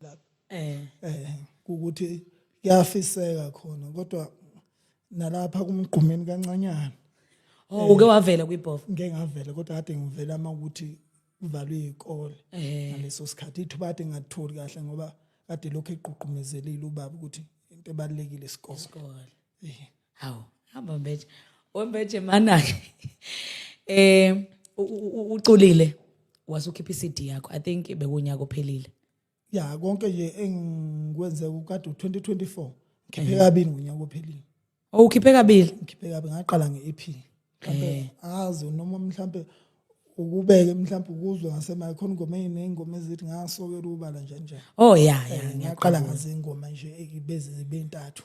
lapho eh eh ukuthi kuyafiseka khona kodwa nalapha kumgqumeni kancanyana oh uke wavela kwibhofu ngeke ngavela kodwa kade ngivela uma ukuthi kuvalwe izikole eh. ngaleso sikhathi ithuba kade ngatholi kahle ngoba kade lokho eqhuqhumezelile ubaba ukuthi into ebalekile isikole isikole eh. hawu hamba mbeje wembeje mana-ke um uculile wase ukhipha i-cd yakho i think bekuwunyaka ophelile ya konke nje engikwenze kukade u-2024 ngikhiphe kabili ngonyaka ophelile o oh, ukhiphe kabili ngikhiphe kabili ngaqala nge-ep mhlawumbe eh. azi noma mhlawumbe ukubeke mhlawumbe ukuzwe ngasemaye khona ingoma eyiney'ngoma ezithi ngasokela ubala nje nje o oh, ya ya eh, ngaqala ngazingoma nje eh, beze zibe ntathu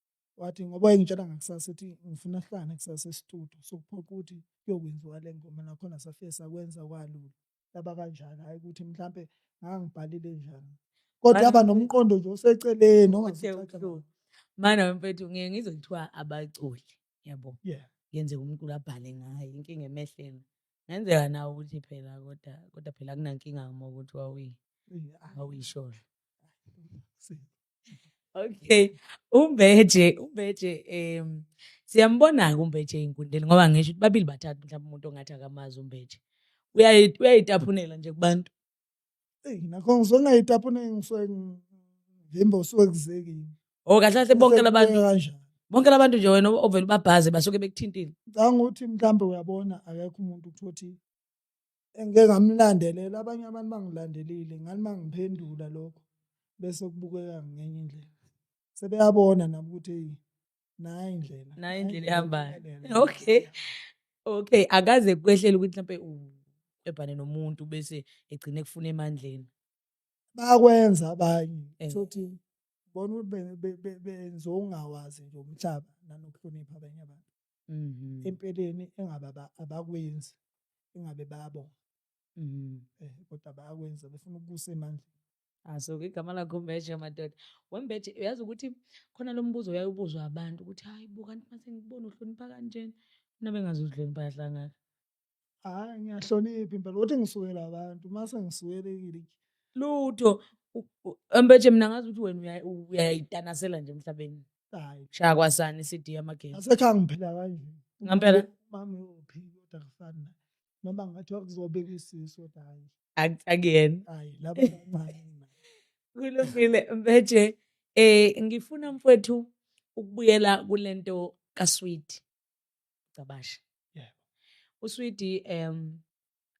wathi ngoba engitshela ngakusasa ethi ngifuna sihlangane kusasa estudio sokuphoqa ukuthi kuyokwenziwa le ngoma nakhona safike sakwenza kwalula yaba kanjalo hhayi ukuthi mhlampe ngangibhalile njani kodwa yaba nomqondo nje oseceleni ongazicaca mana mfethu ngiye ngizwe kuthiwa abaculi yabo yeah yenzeka umculi abhale ngayo inkinga emehleni ngenzeka nawe ukuthi phela kodwa kodwa phela kunankinga uma ukuthi wawuyi awuyisholo okay umbeje umbeje um siyambona-ke umbeje eyinkundleni ngoba ngisho ukuthi babili bathathu mhlawumbe umuntu ongathi akamazi umbeje uyayitaphunela nje kubantu nakho ngisuke ngingayitaphuneki ngisuke ngivimba usuke kuzekile o oh, kahle kahle bonke labantu kanjani bonke labantu nje wena ovele ubabhaze basuke bekuthintile ngicabanga ukuthi mhlawumbe uyabona akekho umuntu ukuthi engike ngamlandelela abanye abantu bangilandelile ngani mangiphendula lokho bese kubukeka ngenye indlela sebeyabona nabo ukuthi hey nayi indlela nayi indlela ihambayo okay okay akaze kwehlela ukuthi mhlawumbe ebhane nomuntu bese egcine kufuna emandleni bakwenza abanye eh. sothi bona ukuthi benze okungawazi nje umhlaba nanokuhlonipha abanye abantu Mhm. empeleni engabe aba- abakwenzi engabe bayabonga Mhm. eh kodwa bayakwenza befuna ukubusa emandleni aso ke igama lakho mbeje madoda wembeje uyazi ukuthi khona lo mbuzo uyayubuzwa abantu ukuthi hayi bo kanti mase ngibona uhlonipha kanjena mina bengazi uzihlonipha yahlangana Hhayi ngiyahlonipha impela ukuthi ngisukele abantu uma sengisukelekile lutho ambeje mina ngazi ukuthi wena uyayitanasela nje emhlabeni hayi shaya kwasani CD yamagesi asekhaya ngiphila kanje ngampela mami uphi kodwa kufana noma ngathi wakuzobeka isisu kodwa hayi akuyena hayi laba bancane kulungile mbeje eh ngifuna mfowethu ukubuyela kulento kasweet Gcabashe. Yebo. Uswidi em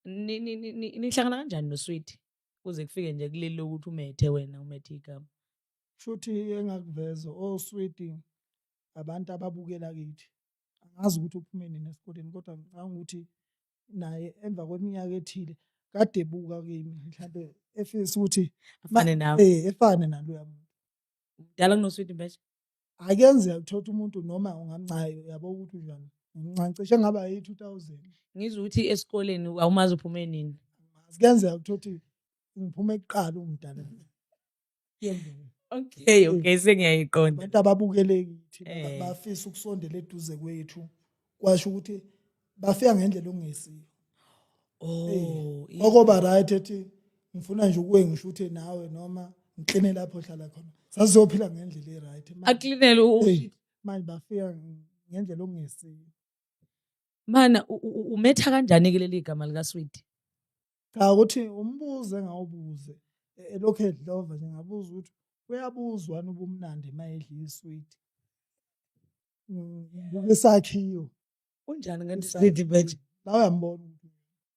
nihlangana kanjani noswidi? Kuze kufike nje kuleli lokuthi umethe wena umethe igama. Shuthi engakuveza oswidi oh, abantu ababukela kithi. Angazi ukuthi uphume nini esikoleni kodwa ngicabanga ukuthi naye emva kweminyaka ethile kade buka kimi mhlambe efisa ukuthi afane nawe. Eh efane naloya muntu. Mdala kunoswidi manje? akuyenzeka ukuthola umuntu noma ungamncayo yabo ukuthi unjani ngincancishe ngaba yi-2000 ngizwa ukuthi esikoleni awumazi uphume nini kuyenzeka ukuthola ukuthi ngiphume kuqala umdala okay okay sengiyayiqonda abantu ababukeleki thina eh. bafisa ukusondela eduze kwethu kwasho ukuthi bafika ngendlela okungesiyo oh okoba right ethi ngifuna nje ukuwe ngisho ukuthi nawe noma ngikline lapho hlala khona sazophila ngendlela e-right aklinele manje bafika ngendlela okungesiyo mana umetha kanjani ke leli gama lika sweet cha ukuthi umbuze ngawubuze e, elokhu edlova nje ngabuza ukuthi uyabuzwa nobumnandi mayedla isweet ngisakhiyo unjani kanti sidi manje lawa yambona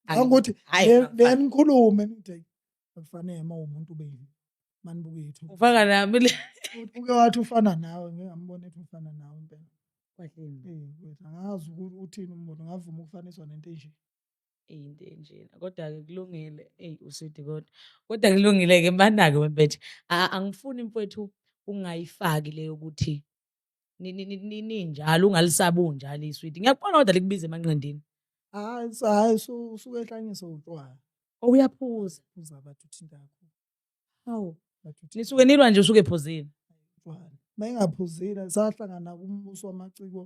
angokuthi benikhulume nithe akufanele uma umuntu ube yini manibuke yethu ufaka nami le uke wathi ufana nawe ngingambona ethi ufana nawe impela kwahleni angazi ukuthi uthini umbono ngavuma ukufaniswa nento enje into enjena kodwa-ke kulungile eyi usidi kodwa kodwa kulungile-ke mana-ke wempethe angifuni mfowethu ungayifaki leyo ukuthi ninjalo ungalisabi unjalo iswidi ngiyakubona kodwa likubiza emanqindini hayi hayi usuke ehlanyisa utshwala oh, uyaphuza uza bathu thindakho hawu nisuke nilwa nje usuke ephuzile utshwala uma engaphuzile sahlangana kumbuso wamaciko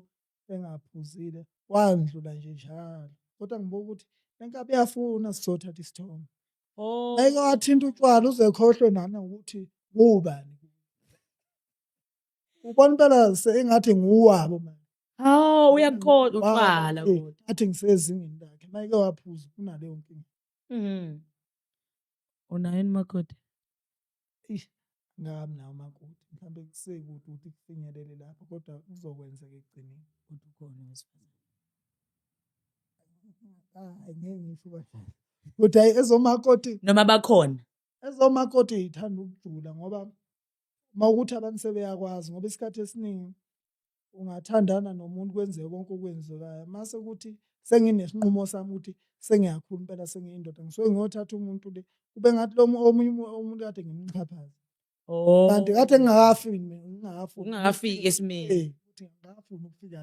engaphuzile wandlula nje njalo kodwa ngibuka ukuthi lenkabi yafuna sizothatha isithombe oh ayike wathinta utshwala uze khohlwe nana ukuthi ngubani ubona impela sengathi nguwabo manje hawu uyakhoda uqala athi ngisezingeni lakhe mayike waphuza kunaleyo nkinga mhm unayo makoti ngami nawo makoti mhlawumbe kusekude ukuthi kufinyelele lapho kodwa kuzokwenzeka ekugcineni kodwa ukhona wesifazane hayi ngeke ngisho ubashela kodwa ezomakoti noma bakhona ezomakoti ithanda ukujula ngoba uma ukuthi abantu sebeyakwazi ngoba isikhathi esiningi ungathandana nomuntu kwenzeke konke okwenzekayo mase kuthi senginesinqumo sami ukuthi sengiyakhula impela sengiyindoda ngisuke ngiyothatha umuntu le kube ngathi lo omunye umuntu kade ngimxhaphaza oh. kanti kade ngingakafiki mina ngingakafiki esimeni eh, ukuthi ngingakafuni ukufika la